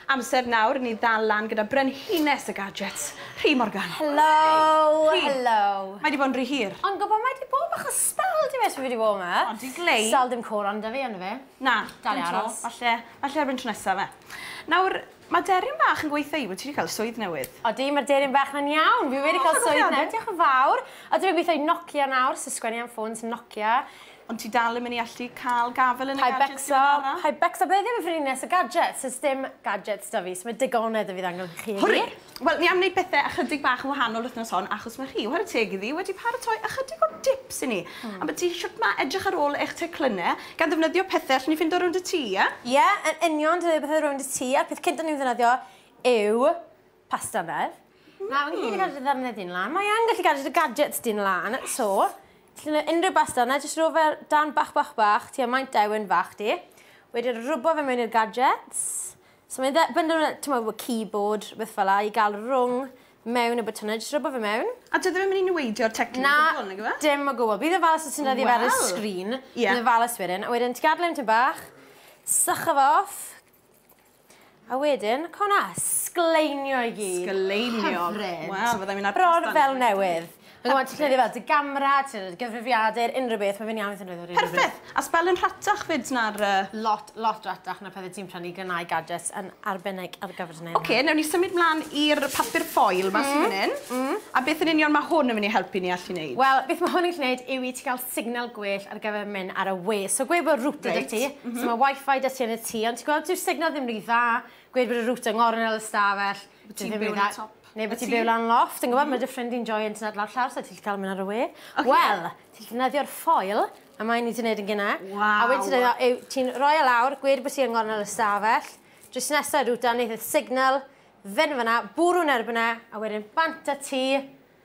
Amser nawr i ni ddal lan gyda brenhines y gadgets, Rhi Morgan. Helo! Rhi! Helo! Mae 'di bod yn ry hir. Ond gwbo mae 'di bod bach o stal diwes fi fi 'di bod 'ma. O di glei. Stal dim coron 'da fi yndo fe? Na. Dal i aros. Falle falle erbyn tro nesa fe. Nawr ma' deryn bach yn gweitha i bo' ti 'di ca'l swydd newydd. Odi ma'r deryn bach 'na'n iawn fi wedi ca'l swydd newydd diolch yn fawr. Odi fi'n gwitho i Nokia nawr so sgwennu am ffôns Nokia. Ond ti dal yn mynd i allu cael gafael yn y gadget diweddara? Hi Becsa, hi Becsa, byddai ddim yn frines y gadget, so sdim gadgets da fi, so mae digonedd da fi ddangon chi heddi. Hwri! Wel, ni am wneud pethe ychydig bach yn wahanol wythnos hon achos mae chi, whare teg iddi, wedi paratoi ychydig o dips i ni, ambyti shwt mae edrych ar ôl eich teclynne, gan ddefnyddio pethe allwn ni ffindo rownd y tŷ, ie? Ie, yn union, defnyddio pethe rownd y tŷ, a'r peth cynta ni'n ddefnyddio yw Pasta beth? Na, fi'n gallu cadw dy ddyrnau di'n lan. Mae yn gallu cadw dy gadgets di'n lan. So, ti'n rhoi unrhyw basta yna, jyst rhoi fe dan bach bach bach, ti'n maint dewyn fach di. Wedyn rwbo fe mewn i'r gadgets. So mae'n ddebynd o'n, ti'n meddwl, keyboard, beth fel la, i gael rwng mewn y botwnau, jyst rwbo fe mewn. A dydw i'n mynd i newidio'r teclyn o gwbl, nag yw e? Na, dim o gwbl. Bydd yn falus os ti'n rhoi fe ar y sgrin. Bydd yn falus wedyn. A wedyn ti'n gadael e am tipyn bach, sychu fe off, A wedyn, co na, sgleinio i gyd. Sgleinio. Hyfryd. Wel, fyddai'n mynd ar Bron fel newydd. Yn gwybod, ti'n llenio fel dy gamra, ti'n llenio gyfrifiadur, unrhyw beth, mae fe'n iawn i ti'n llenio rhywbeth. Perffaith! A sbel yn rhatach fyd na'r... Lot, lot ratach na pethau ti'n prynu gynnau gadgets yn arbennig ar gyfer neud hynna. Oce, newn ni symud mlaen i'r papur ffoil ma sy fan hyn. A beth yn union ma hwn yn mynd i helpu ni allu neud? Wel, beth ma hwn yn gallu neud yw i ti gael signal gwell ar gyfer mynd ar y we. So gweud bod router right. ti, mm -hmm. so mae wifi da ti yn y tŷ, ond ti'n gweld dyw'r signal ddim rhy dda, gweud bod y router yn ngornel y stafell. Bod ti'n byw yn y top. Neu bod ti'n byw lan loft, yn gwybod, mm -hmm. mae dy ffrind i'n joio internet lawr llawr, so ti'n cael mynd ar y we. Okay. Wel, ti'n defnyddio'r ffoil, a mae'n ni wedi gwneud yn gynnau. Wow. A wedyn ti'n rhoi o e lawr, gweud bod ti'n ngornel y stafell, drws nesaf router, wneud y signal, fynd fyna, bwrw'n erbyn e, a wedyn bant y ti,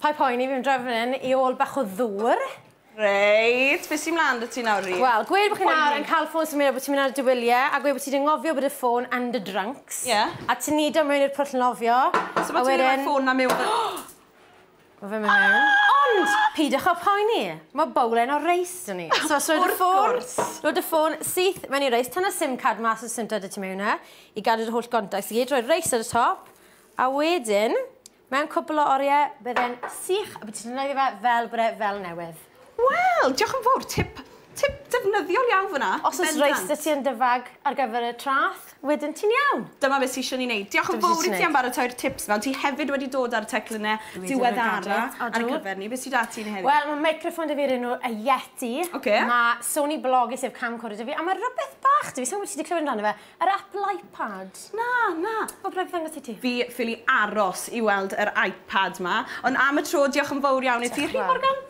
Paid poeni, fi'n dreifio fan hyn i ôl bach o ddŵr. Reit, beth sy'n mlaen da ti nawr Rhi? Wel, gweud bod chi nawr yn cael ffôn symud a bod ti'n mynd ar y diwyliau a gweud bod ti wedi ngofio bod y ffôn yn dy drunks. Ie. A ti'n nid o mewn i'r pwll nofio. So bod ti'n mynd i roi ffôn na mewn fan... Mae fe'n mynd mewn. Ond, peidiwch â phoeni, mae bowlen o reis da ni. So, rhoi dy ffôn... Wrth gwrs. ...rhoi dy ffôn syth mewn i'r reis, tynnu'r sim card mas o'r sim card da ti mewn yna i gadw dy holl gontacts i gyd, rhoi'r reis ar y top a wedyn... Mewn cwpl o oriau, bydde'n sych a bydd ti'n defnyddio fe fel bod e fel newydd. Wel, diolch yn fawr, tip tip defnyddiol iawn fan'na. Os oes reis 'da ti yn dy fag ar gyfer y traeth, wedyn ti'n iawn! Dyma beth ti isio ni wneud. Diolch yn fawr i ti am baratoi'r tips 'ma. Ond ti hefyd wedi dod â'r teclynne diweddara ar ein cyfer ni. Be sy 'da ti heddi? Wel, ma' meicroffon 'da fi o'r enw y Yeti. Ocê. Ma' Sony Bloggie sef camcorder 'da fi, a ma' rwbeth bach 'da fi, sai'n gwbod os ti 'di clywed amdano fe, Yr Apple iPad. Na, na. Wel, rhaid fi ddangos i ti. Fi ffili aros i weld yr iPad 'ma. Ond am y tro, diolch yn fowr iawn i ti. Rhy Morgan.